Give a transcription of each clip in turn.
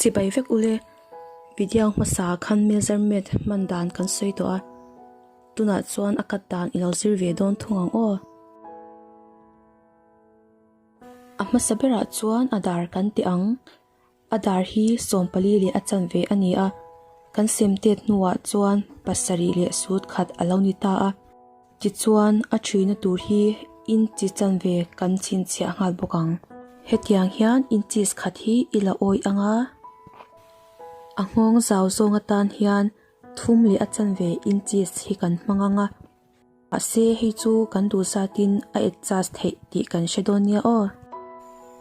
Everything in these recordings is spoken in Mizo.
Chibai vek ule, Vidya hmasa khan measurement hman dan kan sawi tawh a, tunah chuan a cut dan i lo zir ve dawn thung ang aw. A hmasa berah chuan a dar kan teh ang, a dar hi sawmpali leh a chanve a ni a, kan sem tet hnuah chuan pasarih leh sutkhat a lo ni ta a. Tichuan, a ṭhina tur hi inchi chanve kan chhinchhiah nghal bawk ang. Hetiang hian inches khat hi i la awi ang a, a nghawng zau zawng atan hian thum leh a chanve inches hi kan hmang ang a, mahse hei chu kan duh zatin a adjust theih tih kan hre dawn nia aw.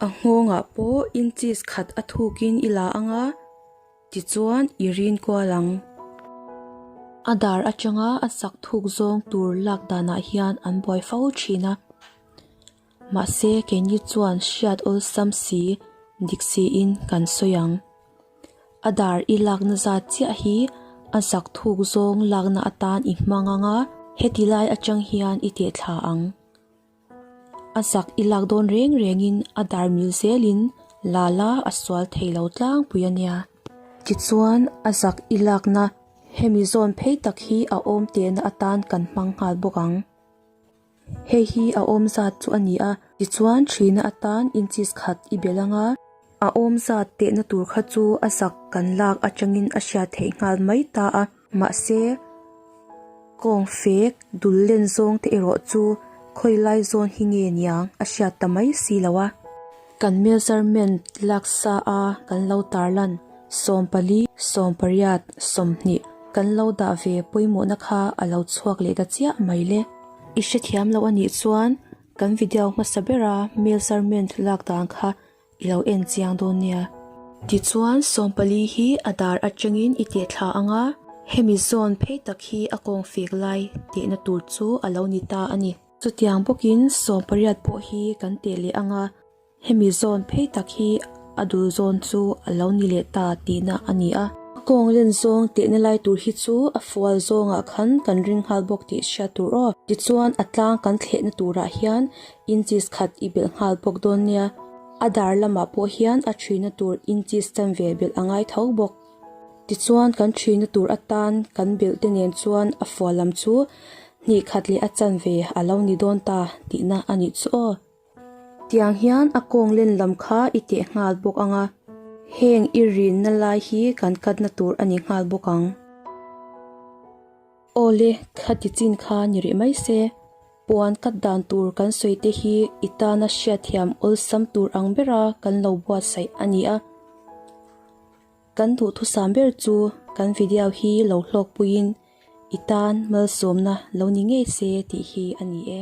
A nghawngah pawh inches khat a thukin i la ang a, Tichuan i rin kual ang. A dar atanga a sak thuk zawng tur lak danah hian an buai fo thin a. Mahse keini chuan hriat awlsam si dik siin kan sawi ang. A dar i lak nazat chiah hi a sak thuk zawng lakna atan i hmang anga heti lai atang hian i tehthla ang. A sak i lak dawn reng rengin a dar mil zelin Lala a sual thei lo tlangpui a nia. Tichuan a zak i lakna hemi zawn phei tak hi a awm tehna atan kan hmang nghal bawk ang. Hei hi a awm zat chu a ni a, tichuan thina atan inchis khat i be langa, a awm zat tehna tur kha chu a zak kan lak atangin a hria theih nghal mai ta a. Mahse, kawng fek dul len zawng te erawh chu khawi lai zawn hi nge niang a hriat ta mai si lo a. Kan measurement laksa a kan lo tar lan, sawm pali, sawm pariat, sawmhnih kan lo dah ve pawimawhna kha a lo chhuak leh ta chiah mai le. I hrethiam loh a nih chuan kan video hmasa bera measurement lak dan kha I lo en chiang dawn nia. Tichuan, sawmpali hi a dar atangin i teh thla ang a, hemi zawn phei tak hi a kawng fek lai tehna tur chu a lo ni ta a ni. Chutiang bawkin, sawm pariat pawh hi kan teh leh ang a, hemi zawn phei tak hi a dul zawn chu a lo ni leh ta tihna a ni a. A kawng len zawng tehna lai tur hi chu a fual zawngah khan kan ring nghal bawk tih hria tur aw. Tichuan, a tlang kan thlehna turah hian Inchis khat i belh nghal bawk dawn nia, a dar lamah pawh hian a thina tur inchis tan ve belh a ngai tho bawk. Tichuan kan thina tur atan kan belh te nen chuan a fual lam chu hnih khat leh a chan ve a lo ni dawn ta tihna a nih chu aw. Tiang hian a kawng len lam kha i teh nghal bawk ang a, heng i rinna lai hi kan katna tur a ni nghal bawk ang. Aw le, kha tichin kha ni rih mai se, Puan cut dan tur kan sawi te hi i tana hriatthiam awlsam tur ang bera kan lo buatsaih a ni a. Kan duhthusam ber chu kan video hi lo hlawk puiin i tan malsawmna lo ni ngei se tih hi a ni e.